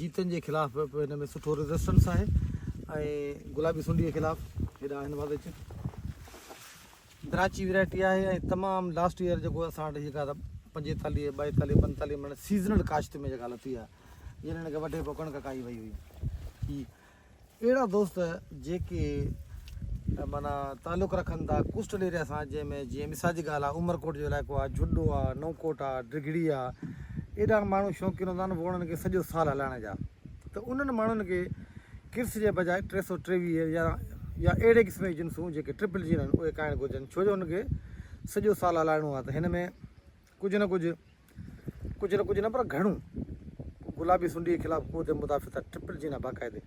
جيتن جي خلاف به هن ۾ سٺو ريزسٽنس آهي ۽ گلابي سنڊي جي خلاف هيڏانهن هن پاسي اچ دراچي ويرائٽي آهي ۽ تمام لاسٽ ايئر جيڪو اسان وٽ جيڪا پنجيتاليهه ٻائيتاليهه پنجيتاليهه مڻ سيزنل ڪاشت ۾ جيڪا لٿي آهي جڏهن هن کي وڍي پوء ڪڻڪ ڪائي وئي هئي اهڙا دوست جيڪي معنيٰ تعلق رکن ٿا ڪوسٽل ايريا سان جنهن ۾ جيئن مثال جي ڳالهه آهي عمرڪوٽ جو علائقو آهي جهڏو آهي نئونڪوٽ آهي ڊگهڙي آهي ايڏا ماڻهو شوقين هوندا آهن ووڻن کي سڄو سال هلائڻ جا ته انهن ماڻهن کي ڪرس جي بجاء ٽي سؤ ٽيويهه يا يا اهڙي قسم جي جنسون جيڪي ٽرپل جين آهن اهي کائڻ گهرجن ڇو جو ان کي سڄو سال هلائڻو آهي ته هن ۾ ڪجهه نه ڪجهه، ڪجهه نه ڪجهه نه پر گهڻو گلابي سنڊيء جي خلاف قوت مدافعت سان ٽرپل جين آهي باقاعدي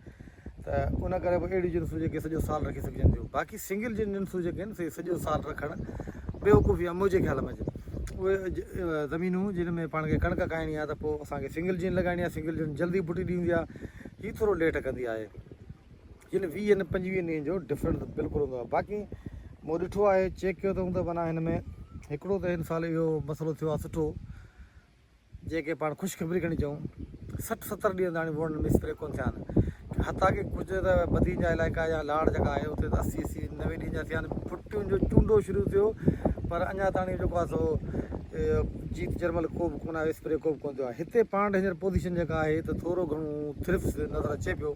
ته ان ڪري به اهڙيون جنسون جيڪي سڄو سال رکي سگهجن ٿيون باقي سنگل جين جنسون جيڪي آهن سي سڄو سال رکڻ بيوقوفي آهي منهنجي خيال ۾ اهي زمينون جن ۾ پاڻ کي ڪڻڪ کائڻي آهي ته پوء اسانکي سنگل جين لڳائڻي آهي سنگل جين جلدي بوٽي ڏيندي آهي هي ٿورو ليٽ ڪندي آهي جن ويهن پنجويهن ڏينهن جو ڊفرنس ته بلڪل هوندو آهي باقي مون ڏٺو آهي چيڪ ڪيو اٿم ته معنيٰ هن ۾ هڪڙو ته هن سال اهو مسئلو ٿيو آهي سٺو جنهن کي پاڻ خوشخبري کڻي چئون سٺ ستر ڏينهن تاڻي ووٽ ۾ اسپري ڪونه ٿيا آهن حتا ڪي ڪجهه ته بدين جا علائقا يا لاڙ جيڪا آهي اتي ته اسي اسي نوي ڏينهن جا ٿيا آهن ڦٽيون جو چونڊو شروع ٿيو پر اڃا تاڻي جيڪو آهي سو جيت جرمل ڪو به ڪونه آيو اسپري ڪو به ڪونه ٿيو آهي هتي پاڻ ڊينجر پوزيشن جيڪا آهي ته ٿورو گهڻو ٿرفس نظر اچي پيو